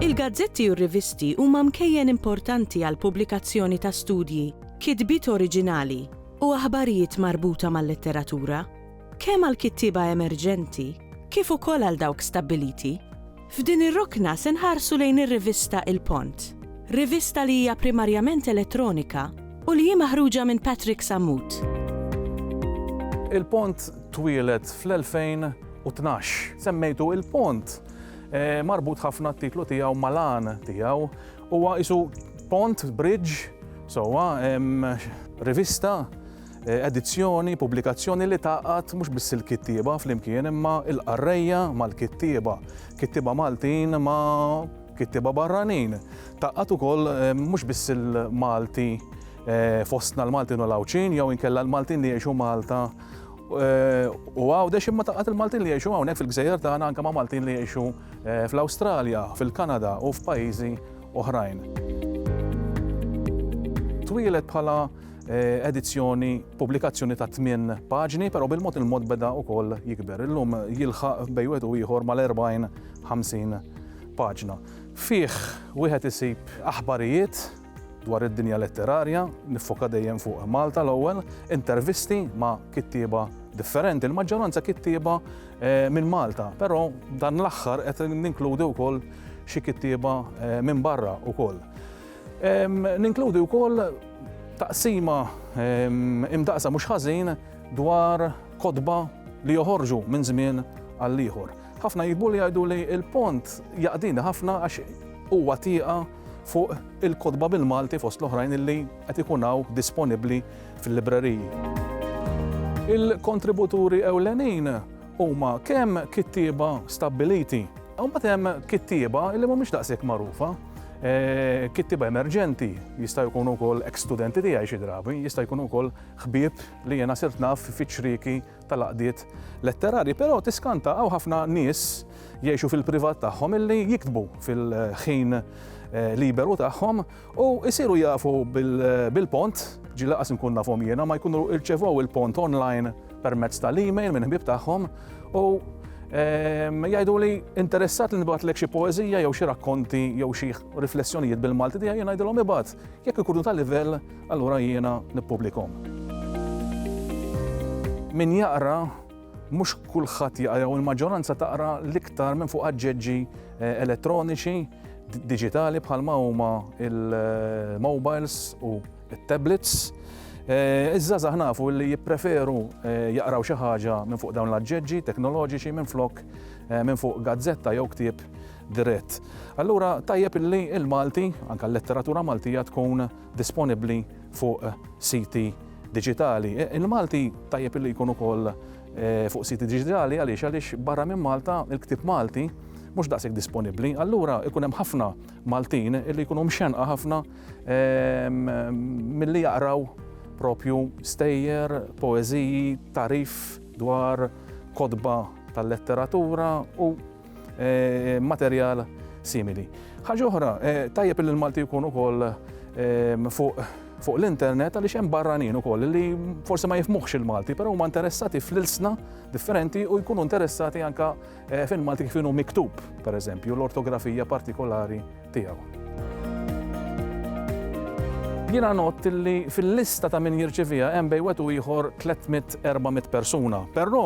Il-gazzetti u r-rivisti huma mkejjen importanti għall-pubblikazzjoni ta' studji, kitbiet oriġinali, u aħbarijiet marbuta mal-letteratura, kemm għall-kittieba emerġenti kif ukoll għal dawk stabbiliti. F'din ir-rokna se nħarsu lejn ir-rivista Il-Pont. Rivista li hija primarjament elettronika u li hi maħruġa minn Patrick Sammut. Il-Pont twieled fl-2012. Semmejtu il-Pont. Marbut ħafna t-titlu tiegħu mal-għan tiegħu. Huwa qisu pont, bridge, sewwa, rivista. eh, edizzjoni, pubblikazzjoni li taqgħad mhux biss il-kittieba flimkien imma il-qarrejja mal-kittieba, kittieba Maltin ma' kittieba barranin. Taqgħad ukoll eh, mhux biss il-Malti eh, fostna l-Maltin u l-Awċin jew inkella l-Maltin li jgħixu Malta Eh, u għawdex imma taqat il-Maltin li jiexu għawnek fil-gżejjer tagħna anka ma' Maltin li jiexu eh, fl-Awstralja, fil-Kanada u f'pajjiżi oħrajn. Twilet bħala edizzjoni, pubblikazzjoni ta' tmien paġni, però bil-mod il-mod beda wkoll jikber. Illum jilħaq bej wieħed u ieħor mal-40, 50 paġna. Fih wieħed isib aħbarijiet dwar id-dinja letterarja, niffoka dejjem fuq Malta l-ewwel, intervisti ma' kittieba differenti, l-maġġoranza kittieba eh, minn Malta, però dan l-aħħar qed ninkludi wkoll xi kittieba eh, minn barra wkoll. Ninkludi wkoll taqsima imdaqsa mhux ħażin dwar kotba li joħorġu minn żmien għal ieħor. Ħafna jiktbu li jgħidu li l-pont jaqdini ħafna għax huwa tieqa fuq il-kotba bil-Malti fost l-oħrajn illi qed ikun hawn disponibbli fil-libreriji. Il-kontributuri ewlenin huma kemm kittieba stabbiliti, u mbagħad hemm kittieba li mhumiex daqshekk magħrufa. Kittieba emerġenti jistgħu jkunu wkoll ex-studenti tiegħi xi drabi, jista' jkun ukoll ħbieb li jiena sirt naf fiċ-ċrieki tal-għaqdiet letterarji. Però tiskanta hawn ħafna nies jgħixu fil-privat tagħhom illi jiktbu fil-ħin liberu tagħhom u jsiru jafu bil-pont, ġieli lanqas inkun nafhom jiena, ma jkunu rċevew il-pont online permezz tal-email minn ħbib tagħhom u ehm, jgħidu li interessat li nibgħatlek xi poeżija jew xi rakkonti jew xi riflessjonijiet bil-Malti tiegħi jien ngħidilhom ibgħat jekk ikunu ta' livell allura jiena nippubblikom. Min jaqra mhux kulħadd jaqra jew il-maġġoranza taqra l-iktar minn fuq aġġeġġi eh, elettroniċi, digitali bħalma huma il-mobiles eh, u it-tablets. Eh, iż-żgħażagħ nafu li jippreferu eh, jaqraw xi ħaġa minn fuq dawn l-aġġeġġi teknoloġiċi minn flok eh, minn fuq gazzetta jew ktieb dirett. Allura tajjeb illi il-Malti, anka l-letteratura Maltija tkun disponibbli fuq siti digitali. E, Il-Malti tajjeb illi jkun ukoll fuq siti digitali għaliex għaliex barra minn Malta il-ktib Malti mhux daqshekk disponibbli, allura ikun hemm ħafna Maltin li jkunu mxenqa ħafna milli jaqraw propju stejjer, poeżiji, tagħrif dwar kotba tal-letteratura u materjal simili. Ħaġa oħra, tajjeb li l-Malti jkun ukoll fuq fuq l-internet għaliex hemm barranin ukoll li forsi ma jifmuħx il-Malti, però huma interessati fl-ilsna differenti u jkunu interessati anka Eh, fin Malti kif inhu miktub, per eżempju, l-ortografija partikolari tiegħu. Jiena not li fil-lista ta' min jirċivija hemm bej wetu ieħor 300-400 persuna, però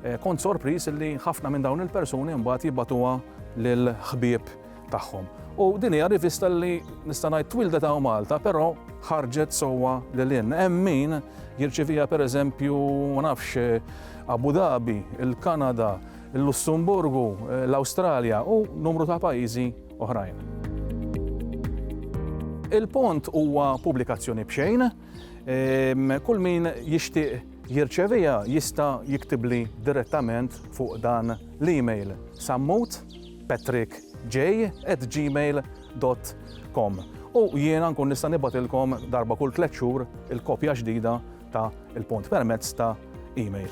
eh, kont sorpris li ħafna minn dawn il-persuni mbagħad jibatuha lil ħbieb tagħhom. U din hija rivista li nista' ngħid twildet hawn Malta, però ħarġet sewwa lil hinn. Hemm min jirċivija pereżempju ma nafx Abu Dhabi, il-Kanada, il-Lussemburgu, l-Awstralja u numru ta' pajjiżi oħrajn. Il-pont huwa pubblikazzjoni b'xejn, ehm, kull min jixtieq jirċevija jista' jiktibli direttament fuq dan l-email sammut patrickj@gmail.com u jiena nkun nista' nibgħatilkom darba kull tliet xhur il-kopja ġdida ta' Il-Punt permezz ta' email.